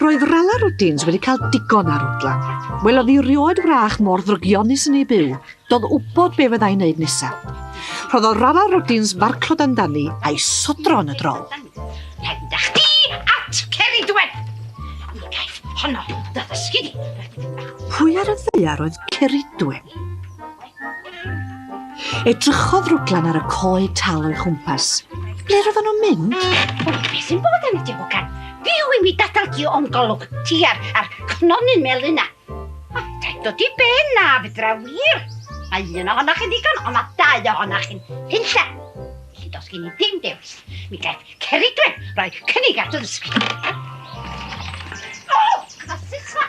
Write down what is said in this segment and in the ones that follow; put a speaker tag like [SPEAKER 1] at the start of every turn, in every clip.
[SPEAKER 1] Roedd Rala Rwdins wedi cael digon ar Rwdlan. Welodd hi rioed wrach mor ddrygionus yn ei byw. Doedd wybod be fyddai'n neud nesaf. Rhoddodd Rala Rwdins farclod amdani a'i sodro yn y drol. Penda chdi at Ceridwen! Mi gaeth honno dy ddysgu di. Pwy ar y ddaear oedd Ceridwen? Edrychodd Rwdlan ar y coed tal o'i chwmpas. Ble roedden nhw'n mynd? O, beth sy'n bod am y diwgan? Byw i mi dadal di o'n golwg ti ar, ar cnonyn melyn na. A deg dod i ben na, fydra wir. Mae un ohonoch chi'n ddigon, ond mae dau ohonoch chi'n hunlla. Felly dos gen i ddim dewis. Mi gaeth Ceridwen roi cynnig at y ddysgu. O, clasys fa!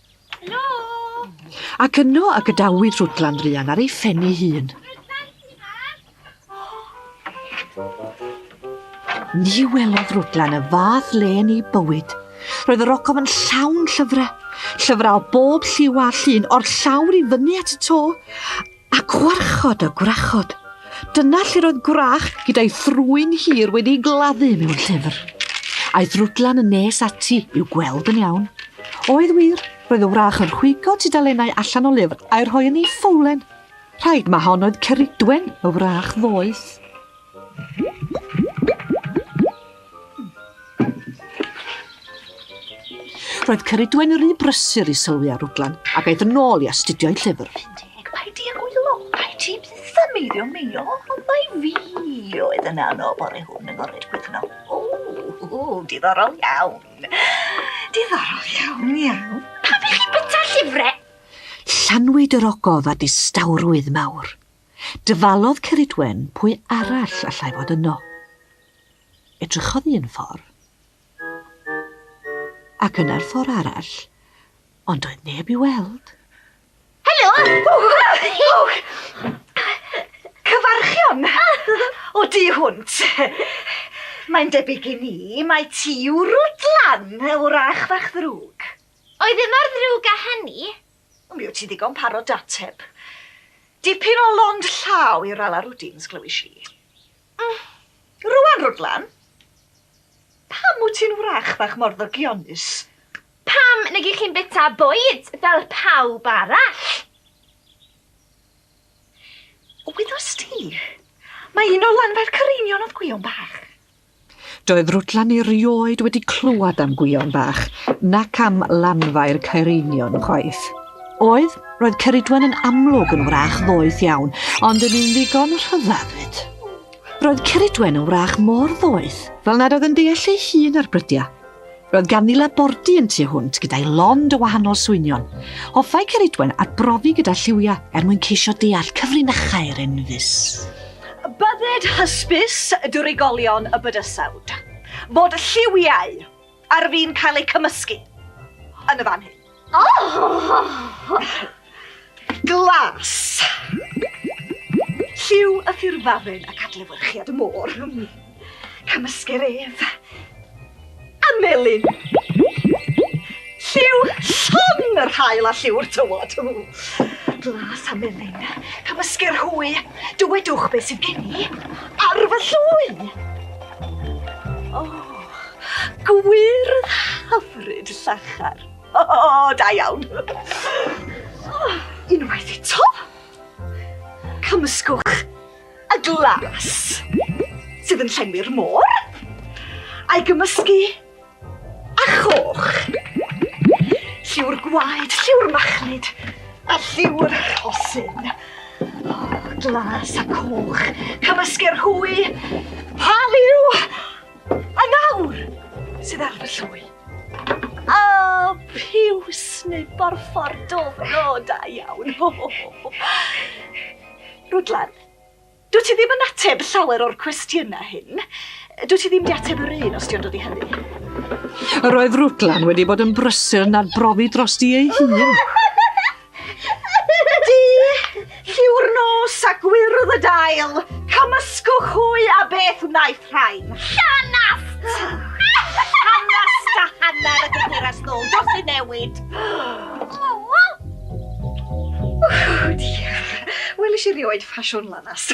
[SPEAKER 1] Helo! Ac yno y gadawyd Rhwdlan Druan ar ei phen ei hun. Ni welodd Rhwdlan y fath le yn ei bywyd. Roedd yr ogof yn llawn llyfrau, llyfrau o bob lliw a llun, o'r llawr i fyny at y to, A gwrachod a gwrachod. Dyna lle roedd gwrach gyda'i thrwyn hir wedi'i gladdu mewn llyfr. Aeth Rwdlan yn nes ati i'w gweld yn iawn. Oedd wir, roedd y wrach yn rhwygo tudalennau allan o lyfr a'i rhoi yn ei ffowlen. Rhaid ma hon oedd Ceridwen, y wrach ddoeth. Roedd Ceridwen rhy brysur i sylwi ar Rwdlan, ac aeth yn ôl i astudio'i llyfr. Deg, paid di ag wylo, rhaid ti byth am meiddio meio, ond mae fi oedd yn anodd bore hwn yn ored gwydno. O, o, diddorol iawn. Diddorol iawn, iawn. Pam i chi byta llyfrau? Llanwyd yr ogof a distawrwydd mawr. Dyfalodd Ceridwen pwy arall allai fod yno. Edrychodd un ffor', ac yna'r ffor' arall, ond doedd neb i'w weld. Helo! Cyfarchion! O du hwnt! Mae'n debyg i mi mai ti yw Rwdlan, wrach fach ddrwg. Oedd e mor ddrwg â hynny? Mi wyt ti'n ddigon parod dy ateb. Dipyn o lond llaw i Rala Rwdins, glywis i. Mm, rŵan, Rwdlan, pam wyt ti'n wrach fach mor ddygionus? Pam nag ych chi'n bita bwyd fel pawb arall? Wyddost ti, mae un o lanfair Cyreinion oedd Gwion Bach. Doedd Rwtlan erioed wedi clywed am Gwion Bach nac am lanfair Caereinion chwaith. Oedd, roedd Ceridwen yn amlwg yn wrach ddoeth iawn, ond yn un ddigon rhyddhad fyd. Roedd Ceridwen yn wrach mor ddoeth fel nad oedd yn deall ei hun ar brydiau. Roedd ganddi labordy yn tu hwnt gyda'i lond o wahanol swynion. Hoffai Ceridwen arbrofi gyda lliwiau er mwyn ceisio deall cyfrinachau'r enfys. Bydded hysbys y drigolion y bydysawd fod lliwiau ar fin cael eu cymysgu yn y fan hyn. Glas! Lliw y ffurfafn ac adlewyrchiad y môr. Cymysgir ef a melyn. Lliw llon yr haul a lliw'r tywod. Glas a melyn. Cymysgir hwy. Dywedwch beth sydd gen i ar fy llwy. Oh, gwyrdd hyfryd llachar. Oh, da iawn. Oh, unwaith eto. Cymysgwch y glas sydd yn llenwi'r môr a'i gymysgu a choch. Lliw'r gwaed, lliw'r machlud a lliw'r rhosyn. Oh, glas a coch. Cymysgu'r hwy. Pa liw? A nawr, sydd ar fy llwy. A piws neu borffor dofno da iawn. Rwdlan, dwi ti ddim yn ateb llawer o'r cwestiynau hyn. Dwi ti ddim di ateb yr un os ti'n dod i hynny. Yr oedd Rwdlan wedi bod yn brysur yn arbrofi dros di ei hun. Di, lliw'r nos a gwyrdd y dail, cymysgwch hwy a beth wnaeth rhain. Llanast! Llanast a hanner y gyfeirias nôl dros ei newid. Ww, diar. Welis i rioed ffasiwn lanast.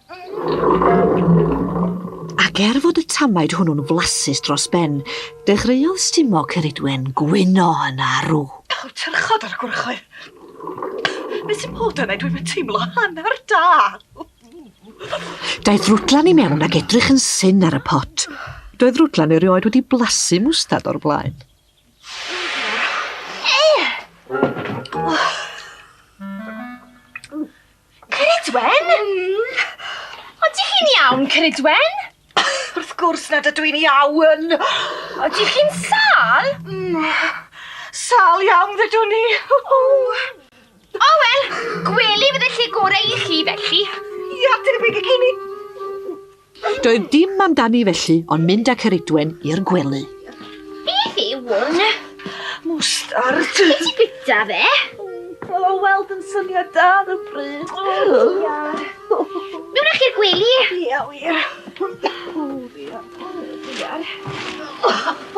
[SPEAKER 1] Ac er fod y tamaid hwnnw'n flasus dros ben, dechreuodd stumo Ceridwen gwyno yn arw. Daw'r tyrchod ar y gwrychoedd. Be sy'n bod yna? Dwi'n fy teimlo hanner da. Daeth Rwdlan i mewn ac edrych yn syn ar y pot. Doedd Rwdlan erioed wedi blasu mwstad o'r blaen. Ceridwen? Mm. Ydych chi'n iawn, Ceridwen? Wrth gwrs nad ydw i'n iawn. Ydych chi'n sal? Mm. Sal iawn, ddydw ni. O, oh, wel, gweli fydde lle gorau i chi, felly. Ia, debyg i gini. Doedd dim amdani felly ond mynd â Ceridwen i'r gwely. Beth yw hwn? Mwstard. Be ti bita fe? O, oh, weld yn syniad da ar y bryd. O, oh, iar. Mewn a'ch i'r gwely? Ia, wir. O, ia. O, iar.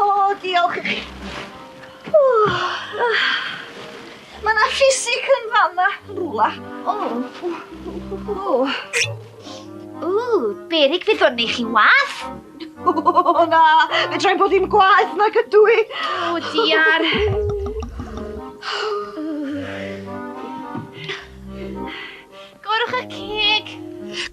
[SPEAKER 1] O, diolch i chi. Mae yna ffisig yn fanna, rhywle. O. O. Ww, berig fydd hwn i chi wath? O na, fe drai bod hi'n gwaeth na cydw i. O diar. Gorwch y ceg.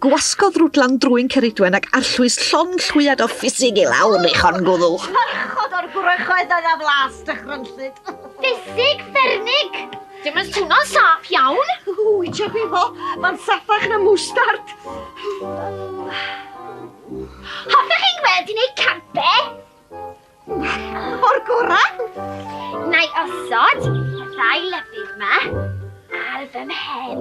[SPEAKER 1] Gwasgodd rwdlan drwy'n ceridwen ac arllwys llon llwyad o ffisig i lawr eich hon gwddw. Parchod o'r gwrychoedd yna flas dychrynllyd. Ffisig fernig! Dim yn swno'n saff iawn. Wi tua gwi fo, mae'n saffach na mwstard. Hoffech chi'n gweld i wneud campe? O'r gorau. Na i osod y ddau lyfydd yma ar fy mhen.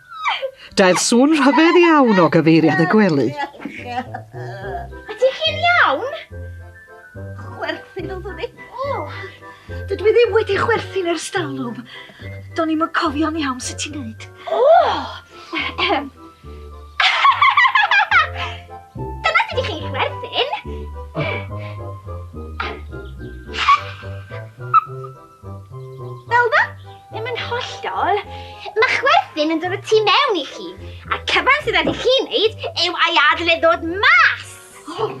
[SPEAKER 1] Daeth sŵn rhyfedd iawn o gyfeiriad y gwely. Ydych chi'n iawn? Chwerthin oeddwn i. O! Dydw i ddim wedi chwerthin ers dalwm. Do'n i'm yn cofio'n iawn sut ti'n neud. O! Ehem. Dyna sut i chi chwerthin. Fel na? Ddim yn hollol. Mae chwerthin yn dod o tu mewn i chi, a'r cyfan sydd wedi chi wneud yw ei adl e ddod mas. Oh.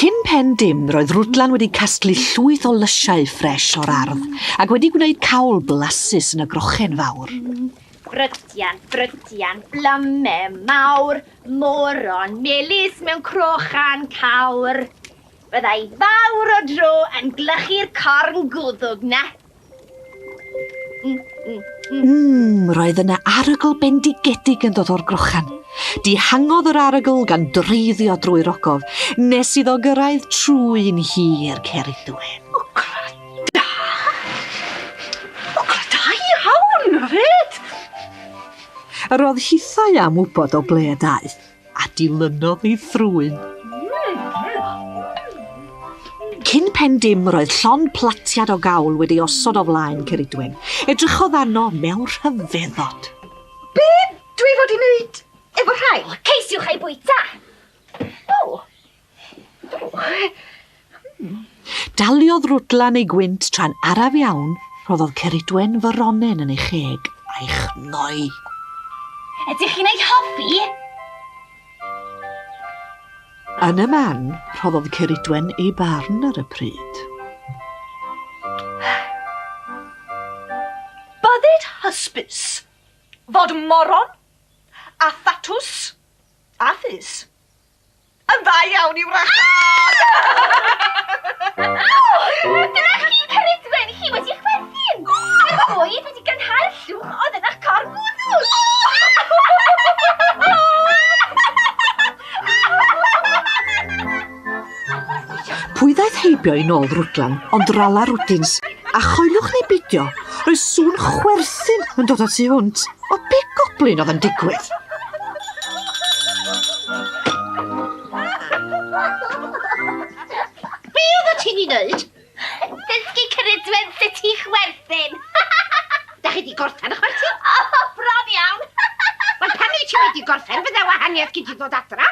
[SPEAKER 1] Cyn pen dim, roedd Rwdlan wedi casglu llwyth o lysiau ffres o'r ardd ac wedi gwneud cawl blasus yn y grochen fawr. Brydian, brydian, blyme mawr, moron melys mewn crochan cawr. Byddai fawr o dro yn glychu'r corn gwddwg na. Mmm, roedd yna arogl bendigedig yn dod o'r grochan. Dihangodd yr arogl gan dreiddio drwy'r ogof, nes iddo gyrraedd trwy'n hir cer i ddwyn. Roedd hithau am wybod o ble y daeth. a dilynodd ei frwyn. Cyn pen dim roedd llon platiad o gawl wedi osod o flaen Ceridwen. Edrychodd arno mewn rhyfeddod. Be dwi fod i wneud efo rhai? Ceisiwch ei bwyta! O, Daliodd Rwdlan ei gwynt tra'n araf iawn, rhoddodd Ceridwen foronen yn ei cheg, a'i chnoi. Ydych chi'n ei hoffi? Yn y man, rhoddodd Ceridwen ei barn ar y pryd. Byddid hysbys fod moron a thatws a phys. Yn dda iawn i wrachod! Aww! Dyna chi, Ceridwen, chi wedi chwerthin! Mae'r bwyd wedi gynhau'r llwch oedd yn eich corff wddws! Pwy ddaeth heibio i nôl Rwdlan ond Rala Rwdins, a choeliwch neu beidio, roedd sŵn chwerthin yn dod o tu hwnt. O be goblin oedd yn digwydd? Be oedd o ti'n ei wneud? Dysgu cyrydwen sut i chwerthin. Da chi di gorffen y chwerthin? O, bron iawn. Wel, pan wyt ti wedi gorffen, fydde wahaniaeth gyd i ddod adra.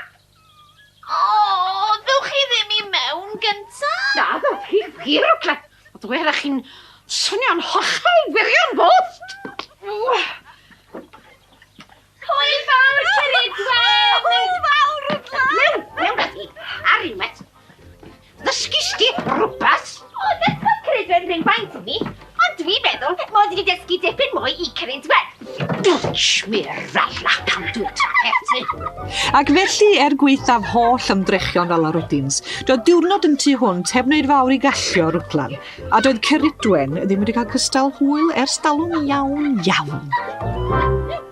[SPEAKER 1] Oh, ddewch chi ddim i mewn gynta? Na, ddewch chi wir o gled. A dwi ar chi'n swnio'n hollol wirion bost. Hwyl fawr, Sir Edward! Hwyl fawr, Edward! Mewn, mewn ati, ar unwaith. Ddysgis di rwbath? O, dechrau credw'n rywfaint i mi, ond dwi'n meddwl mod i wedi dysgu dipyn mwy i Cyrins Wen. Dwtsh, mi'r falla pan dwi'n trafod ti. Ac felly, er gwaethaf holl ymdrechion fel arwydins, doedd diwrnod yn tu hwnt heb wneud fawr i gallio Rwdlan, a doedd Cyridwen ddim wedi cael cystal hwyl ers dalwm iawn, iawn.